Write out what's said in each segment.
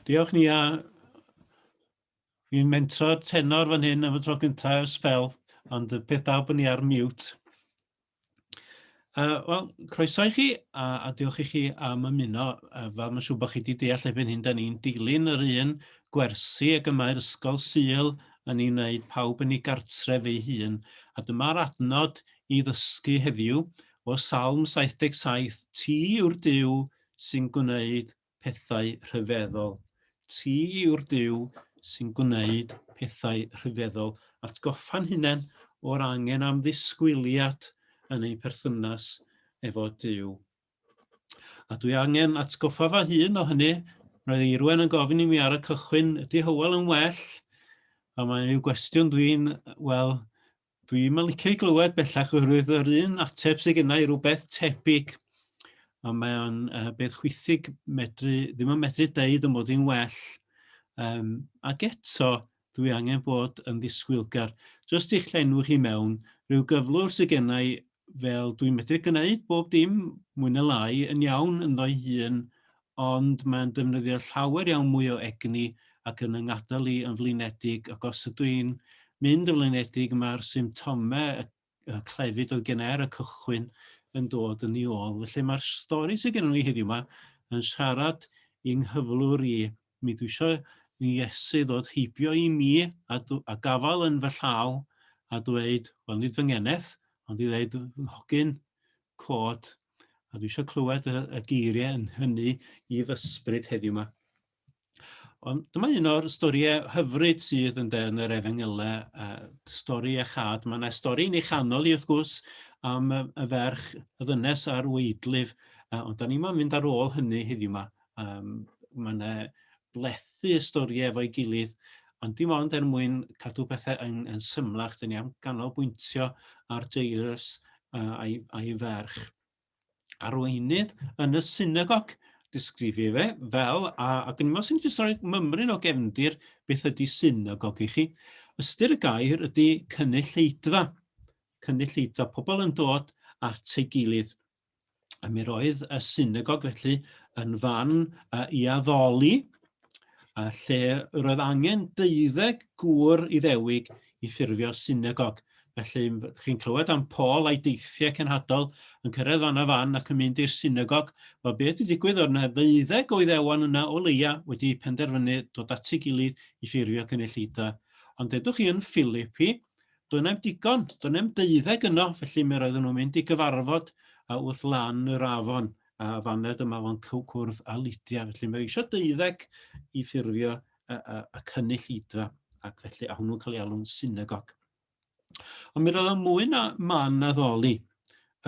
Diolch ni a fi'n mentro tenor fan hyn am y tro gyntaf ers spel, ond y peth dal bod ni ar mute. Uh, Wel, croeso i chi, a, a diolch i chi am ymuno. Uh, fel mae'n siŵr bod chi wedi deall erbyn hyn, da ni'n dilyn yr un gwersi ag y mae'r ysgol syl yn ei wneud pawb yn ei gartref ei hun. A dyma'r adnod i ddysgu heddiw, o Salm 77, Ti yw'r Duw sy'n gwneud pethau rhyfeddol. Ti yw'r Duw sy'n gwneud pethau rhyfeddol. Atgoffa'n hunain o'r angen am ddisgwyliad yn ein perthynas efo Duw. A dwi angen atgoffa fy hun o hynny. Roedd Eirwen yn gofyn i mi ar y cychwyn, ydy Hywel yn well? A mae'n rhyw gwestiwn dwi'n, wel, Dwi'm yn licio ei glywed bellach oherwydd yr un ateb sydd gennau i rhywbeth tebyg a mae o'n uh, beth chwithig medru, ddim yn medru deud yn bod hi'n well. Um, ac eto, dwi angen bod yn ddisgwylgar. Just i'ch llenwch i mewn, rhyw gyflwr sydd gennau fel dwi'n medru gwneud bob dim mwy na lai yn iawn ynddo'i hun ond mae'n defnyddio llawer iawn mwy o egni ac yn 'y ngadael i yn flinedig ac os ydw i'n mynd yn flinedig mae'r symptomau y y clefyd oedd gen i ar y cychwyn yn dod yn ei ôl. Felly mae'r stori sydd gennym ni heddiw yma yn siarad i'n nghyflwr i. Mi dwi eisiau i Iesu ddod heibio i mi a, a gafael yn fy llaw a dweud, wel nid fy ngeneth, ond i ddweud, hogyn, cod, a dwi eisiau clywed y, y geiriau yn hynny i fysbryd heddiw yma. Ond dyma un o'r storiau hyfryd sydd yn yn yr efengylau, uh, stori a chad. Mae yna stori yn ei chanol i wrth gwrs am y ferch y ddynes a'r weidlif, uh, ond da ni'n mynd ar ôl hynny heddiw yma. Um, mae yna blethu y storiau efo'i gilydd, ond dim ond er mwyn cadw pethau yn, yn symlach, dyn ni am ganolbwyntio ar Jairus uh, a'i, a'i ferch. Arweinydd yn y synagog, disgrifio fe fel, a, a dyn ni'n sy'n jyst rhoi mymryn o gefndir beth ydy synagog i chi. Ystyr y gair ydy cynulleidfa, cynulleidfa, pobl yn dod at ei gilydd. A mi roedd y synagog felly yn fan uh, i addoli, a lle roedd angen deuddeg gŵr iddewig i ffurfio synagog. Felly, chi'n clywed am Paul a'i deithiau cenhadol yn cyrraedd fan a fan ac yn mynd i'r synagog. Wel, beth wedi digwydd oedd yna ddeuddeg o iddewon yna o leia wedi penderfynu dod at ei gilydd i ffurfio cynulleidfa. Ond edwch chi yn Philipi, Doedd neb digon, doedd neb deuddeg yno, felly mi roedden nhw'n mynd i gyfarfod a wrth lan yr afon a faned yma fo'n cwrdd a Lydia. Felly mae eisiau deuddeg i ffurfio y, y, y cynnill idfa ac felly a hwnnw'n cael ei alw'n synagog. Ond mi roedd o'n mwy na man addoli.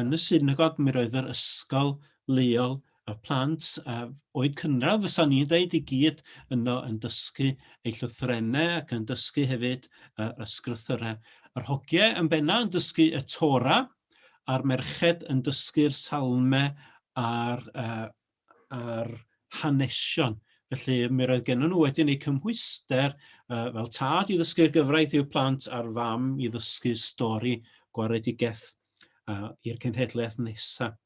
Yn y synagog, mi roedd yr ysgol leol, y plant a oed cynradd, fysa ni'n dweud i gyd yno yn dysgu eu llythrenau ac yn dysgu hefyd yr ysgrythyrau. Yr hogiau yn benna yn dysgu y Tora, a'r merched yn dysgu'r salmau a'r uh, a'r hanesion. Felly mi roedd gennym nhw wedyn eu cymhwyster uh, fel tad i ddysgu'r gyfraith i'w plant a'r fam i ddysgu stori gwaredigaeth uh, i'r cenhedlaeth nesaf.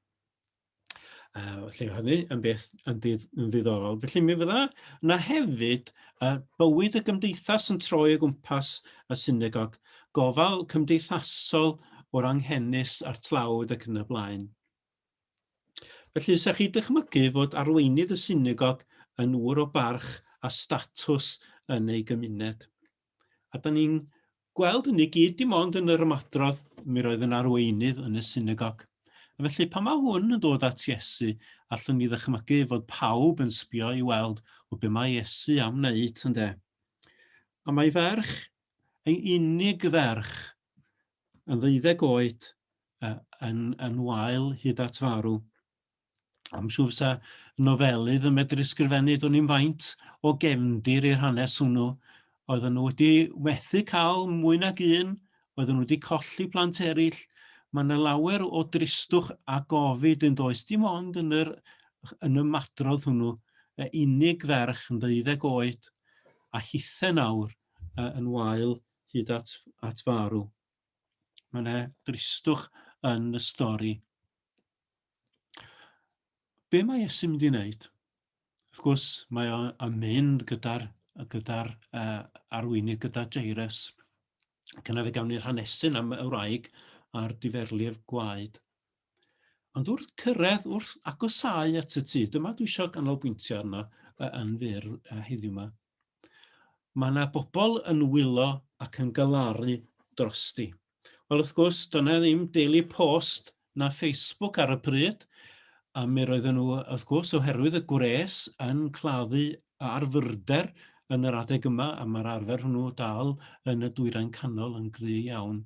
Uh, felly hynny yn beth yn, dydd, yn ddiddorol. Felly mi fydda yna hefyd uh, bywyd y gymdeithas yn troi o gwmpas y synagog, gofal cymdeithasol o'r anghenus a'r tlawd ac yn y blaen. Felly, sech chi dychmygu fod arweinydd y synagog yn ŵr o barch a statws yn ei gymuned. A da ni'n gweld hynny gyd dim ond yn yr ymadrodd, mi roedd yn arweinydd yn y synagog. A felly, pan mae hwn yn dod at Iesu, allwn ni ddychmygu fod pawb yn sbio i weld o be mae Iesu am wneud, ynddo. A mae ferch, ei unig ferch, yn ddeuddeg oed, yn, yn wael hyd at farw. Am siŵr sa nofelydd yn medru sgrifennu dwn i'n faint o gefndir i'r hanes hwnnw. Oedden nhw wedi methu cael mwy nag un, oedden nhw wedi colli plant eraill. Mae yna lawer o dristwch a gofid yn does dim ond yn, yr, yn y madrodd hwnnw, y unig ferch yn ddeuddeg oed a hithe nawr yn wael hyd at, at farw. Mae yna dristwch yn y stori. Be mae Iesu'n mynd i wneud? Wrth gwrs, mae o'n mynd gyda'r gyda uh, arweinydd, gyda Jairus. Cyna fe gawn ni'r hanesyn am y wraig a'r diferlir gwaed. Ond wrth cyrraedd, wrth agosau at y tŷ, dyma dwi eisiau ganolbwyntio arno yn fyr heddiw yma. Mae 'na bobl yn wylo ac yn galaru drosti. Wel, wrth gwrs, doedd 'na ddim Daily Post na Facebook ar y pryd, a mi roedden nhw, wrth gwrs, oherwydd y gwres, yn claddu ar fyrder yn yr adeg yma, a mae'r arfer hwnnw dal yn y Dwyrain Canol yn gry iawn.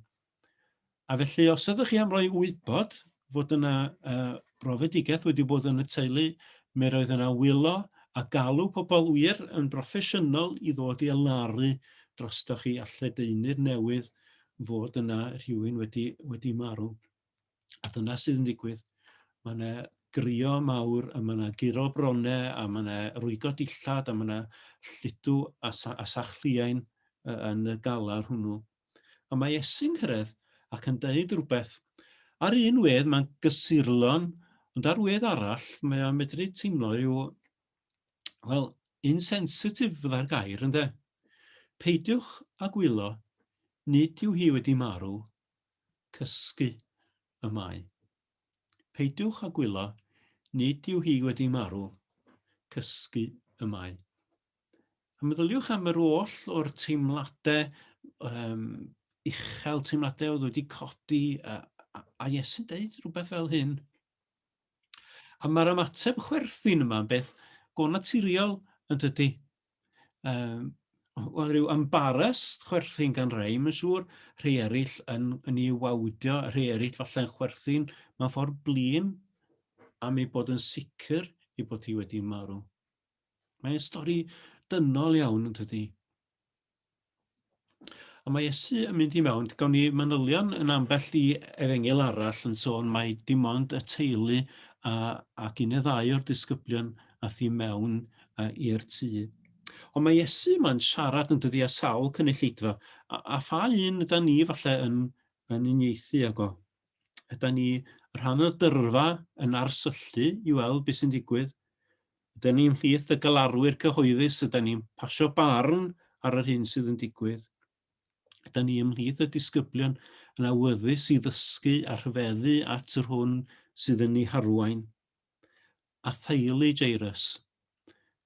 A felly, os ydych chi am roi wybod fod yna uh, brofedigaeth wedi bod yn y teulu, mi roedd yna wylo a galw pobl wir yn broffesiynol i ddod i elaru drostoch chi a lledaenu'r newydd fod yna rhywun wedi, wedi marw. A dyna sydd yn digwydd. Mae yna grio mawr, a mae yna guro bronau, a mae yna rwygo dillad, a mae yna llidw a, sa a sachliain yn y galar hwnnw. Ond mae Iesu'n cyrraedd ac yn deud rhywbeth. Ar un wedd mae'n gysurlon, ond ar wedd arall mae o'n medru teimlo rhyw, wel, insensitif fydda'r gair, ynddo? Peidiwch a gwyllo, nid yw hi wedi marw, cysgu y mae. Peidiwch a gwyllo, nid yw hi wedi marw, cysgu y mae. A meddyliwch am yr oll o'r teimladau um, uchel, teimladau oedd wedi codi, a, a, a Iesu'n deud rhywbeth fel hyn. A mae'r ymateb chwerthin yma yn beth go naturiol yn dydy. Um, Wel, rhyw embarrassed chwerthin gan rei, mae'n siŵr, rhai eraill yn, yn ei wawdio, rhai eraill falle'n chwerthin mae'n ffordd blin am ei bod yn sicr ei bod hi wedi marw. Mae'n stori dynol iawn yn tydi. A mae Iesu yn mynd i mewn, gawn ni manylion yn ambell i efengil arall yn sôn mae dim ond y teulu a, ac un neu ddau o'r disgyblion a thi mewn i'r tŷ. Ond mae Iesu yma'n siarad yn dydi a sawl cynulleidfa, a, a pha un yda ni falle yn, yn unieithu ag o? Yda ni rhan o'r dyrfa yn arsyllu i weld beth sy'n digwydd? Ydyn ni'n mhlith y galarwyr cyhoeddus? Ydyn ni'n pasio barn ar yr hyn sydd yn digwydd? Ydyn ni ymhlith y disgyblion yn awyddus i ddysgu a rhyfeddu at yr hwn sydd yn ei harwain? A theulu Jairus?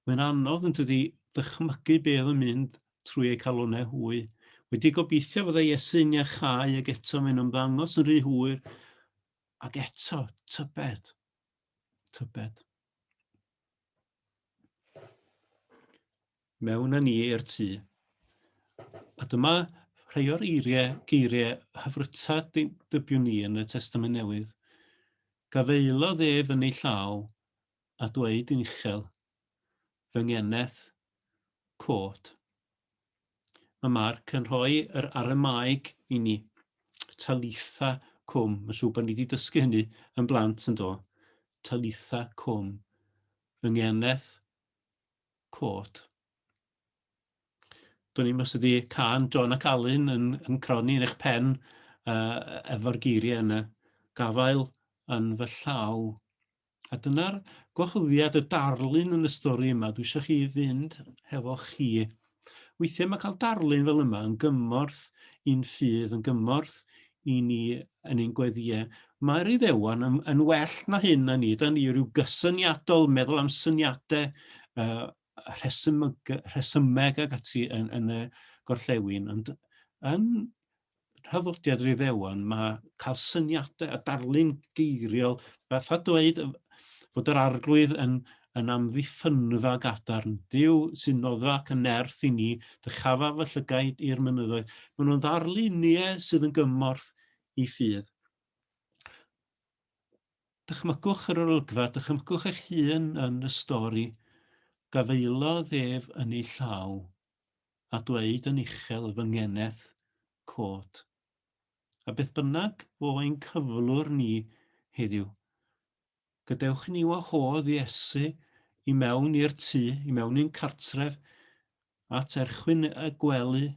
Mae'n anodd yn dydi ddychmygu be oedd yn mynd trwy eu calonau hwy. Wedi gobeithio fydda Iesu'n iachau ag eto mae'n ymddangos yn rhy hwyr ac eto tybed. Tybed. Mewn â ni i'r tŷ. A dyma rhai o'r eiriau, geiriau hyfryta dybiwn ni yn y Testament Newydd. Gafaelodd ef yn ei llaw a dweud yn uchel, fy ngeneth, cod. Mae Mark yn rhoi yr Aramaeg i ni. Talitha cwm. Mae'n siŵr bod ni wedi dysgu hynny yn blant yn do. Talitha cwm. Fy ngeneth cod. Do'n i'n os ydi can John ac Alun yn, yn croni yn eich pen uh, efo'r geiriau yna. Gafael yn fy llaw. A dyna'r gwahoddiad y darlun yn y stori yma. Dwi eisiau chi fynd hefo chi. Weithiau mae cael darlun fel yma yn gymorth i'n ffydd, yn gymorth i ni yn ein gweddiau. Mae'r Iddewon yn, yn well na hyn na ni. Da ni rhyw gysyniadol, meddwl am syniadau, uh, rhesymeg, rhesymeg ag ati yn, yn y gorllewin. Ond yn rhyddodiad yr Iddewon, mae cael syniadau a darlun geiriol, fatha dweud fod yr arglwydd yn, yn amddiffynfa gadarn. Dyw sy'n noddfa ac yn nerth i ni, dychafa fy llygaid i'r mynyddoedd. Maen nhw'n ddarluniau sydd yn gymorth i ffydd. Dychmygwch yr olygfa, dychmygwch eich hun yn y stori. Gafaelodd ef yn ei llaw. a dweud yn uchel fy ngeneth cod. A beth bynnag fo ein cyflwr ni heddiw, gadewch i ni wahodd Iesu i mewn i'r tŷ, i mewn i'n cartref, at erchwyn y gwely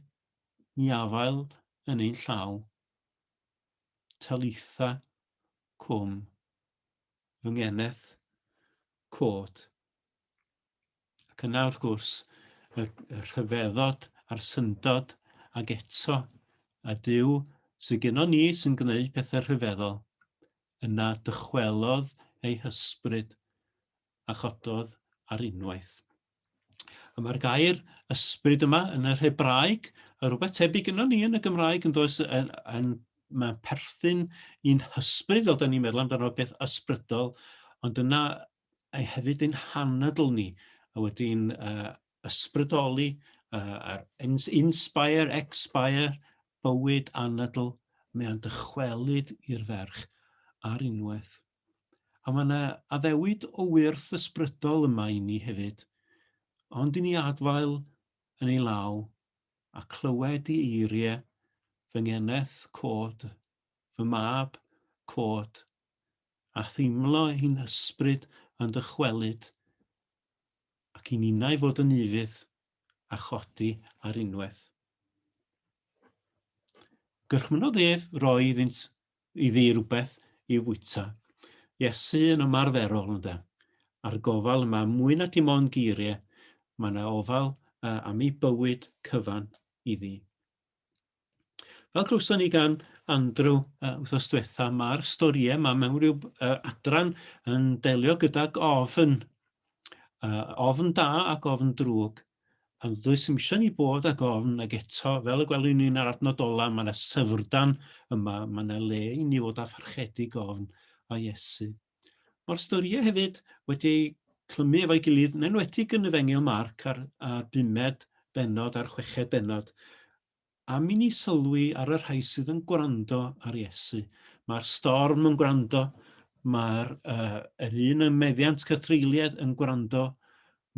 i afael yn ein llaw. Talitha cwm, fy ngeneth cod. Ac yna, wrth gwrs, y, y rhyfeddod a'r syndod, ac eto, a Dyw sy'n gyno ni sy'n gwneud pethau rhyfeddol, yna dychwelodd ei hysbryd a chododd ar unwaith. A mae'r gair ysbryd yma yn yr Hebraeg, a rhywbeth tebyg yno ni yn y Gymraeg yn does yn, yn, mae'n perthyn i'n hysbryd fel da ni'n meddwl amdano beth ysbrydol, ond yna a hefyd ein hanadl ni, a wedi'n uh, ysbrydoli uh, a'r inspire, expire, bywyd anadl, mae o'n dychwelyd i'r ferch ar unwaith. A mae yna addewid o wyrth ysbrydol yma i ni hefyd, ond i ni adfael yn ei law a clywed i eiriau fy ngeneth cod, fy mab cod, a theimlo ein hysbryd yn dychwelyd, ac i ninnau fod yn ufudd a chodi ar unwaith. Gyrchmynodd ef roi iddynt iddi rhywbeth i'w fwyta. Iesu yn ymarferol, ynda, a'r gofal yma, mwy na dim ond geiriau, mae yna ofal uh, am ei bywyd cyfan iddi. Fel clywson ni gan Andrew uh, wrthos diwetha, mae'r storiau yma mewn rhyw uh, adran yn delio gydag ofn. Uh, ofn da ac ofn drwg. A dwys ddim eisiau ni bod ag ofn ag eto, fel y gwelwn ni'n ar adnod ola, mae yna syfrdan yma, mae yna le i ni fod â pharchedig ofn a Iesu. Mae'r storiau hefyd wedi clymu efo'i gilydd, yn enwedig yn y fengil Marc a'r, a'r bumed benod a'r chweched benod. Am i ni sylwi ar y rhai sydd yn gwrando ar Iesu. Mae'r storm yn gwrando, mae'r uh, yr un ym meddiant cythreuliad yn gwrando,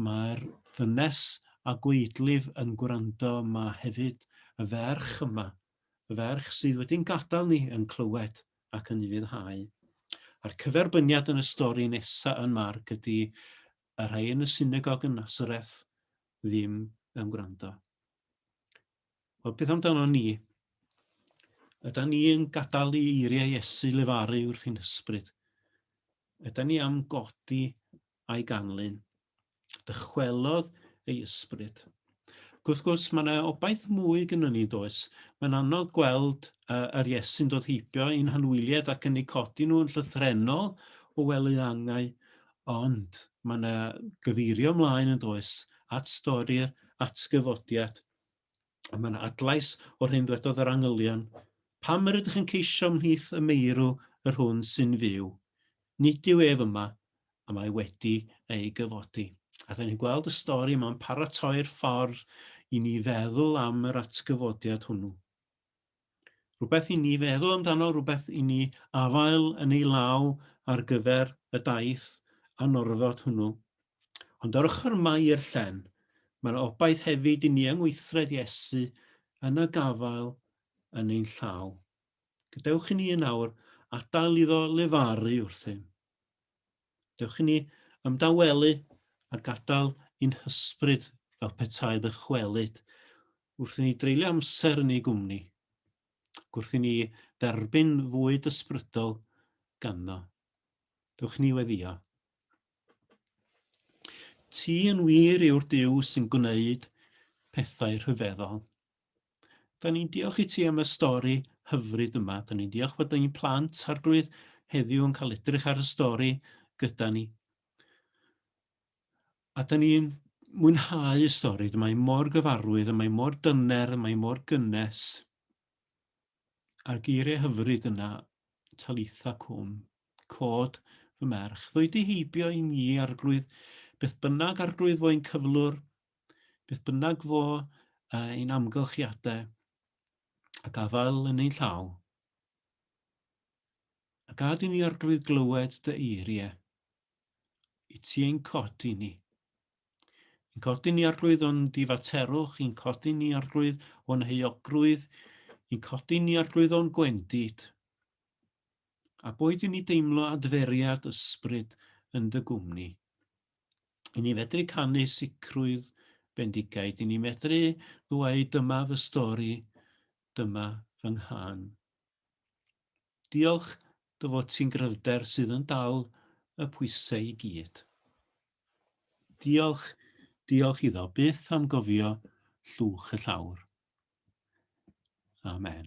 mae'r ddynes a gweidlif yn gwrando, mae hefyd y ferch yma, y ferch sydd wedi'n gadael ni yn clywed ac yn ufuddhau. A'r cyferbyniad yn y stori nesaf yn Marc ydy y rhai yn y synagog yn Nazareth ddim yn gwrando. Wel, beth amdano ni? Yda ni yn gadael i eiriau Iesu lefaru wrth ein hysbryd? Yda ni am godi a'i ganlyn? Dychwelodd ei ysbryd. Gwrth gwrs, mae yna obaith mwy gyda ni, does? Mae'n anodd gweld uh, yr Iesu'n dod heibio i'n hanwyliad ac yn ei codi nhw yn llythrenol o wely angau, Ond, mae yna gyfeirio ymlaen yn does at stori'r atgyfodiad, a mae yna adlais o'r hyn ddwedodd yr angylion, Pam yr ydych yn ceisio ymhlith y meirw yr hwn sy'n fyw? Nid yw ef yma, a mae wedi ei gyfodi. A da ni'n gweld y stori yma'n paratoi'r ffordd i ni feddwl am yr atgyfodiad hwnnw. Rhywbeth i ni feddwl amdano, rhywbeth i ni afael yn ei law ar gyfer y daith anorfod hwnnw. Ond ar ochr mai i'r llen, mae yna obaith hefyd i ni yng ngweithred Iesu yn y gafael yn ein llaw. Gadewch i ni yn awr adael iddo lefaru wrthym. Dewch i ni ymdawelu a gadael i'n hysbryd fel petai ddychwelyd wrth i ni dreulio amser yn ei gwmni, ac wrth i ni dderbyn fwyd ysbrydol ganddo. Dewch i ni weddio. Ti yn wir yw'r Duw sy'n gwneud pethau rhyfeddol. Da ni'n diolch i ti am y stori hyfryd yma. Da ni'n diolch bod ein plant arglwydd heddiw yn cael edrych ar y stori gyda ni. A da ni'n mwynhau y stori. Mae mor gyfarwydd, mae mor dyner, mae mor gynnes. A'r geiriau hyfryd yna, talitha cwm, cod fy merch. Ddwy di heibio i ni, arglwydd, beth bynnag arglwydd fo'n cyflwr, Beth bynnag fo ein amgylchiadau a gafael yn ein llaw, a gad i ni arglwydd glywed dy eiriau i ti ein codi ni. Yn codi ni arglwydd o'n difaterwch, yn codi ni arglwydd o'n heuogrwydd, yn codi ni arglwydd o'n gwendid. A boed i ni deimlo adferiad ysbryd yn dy gwmni, i ni fedru canu sicrwydd bendigaid, i ni fedru ddweud dyma fy stori, dyma fy nghân. Diolch dy fod ti'n gryfder sydd yn dal y pwysau i gyd. Diolch, diolch iddo byth am gofio llwch y llawr. Amen.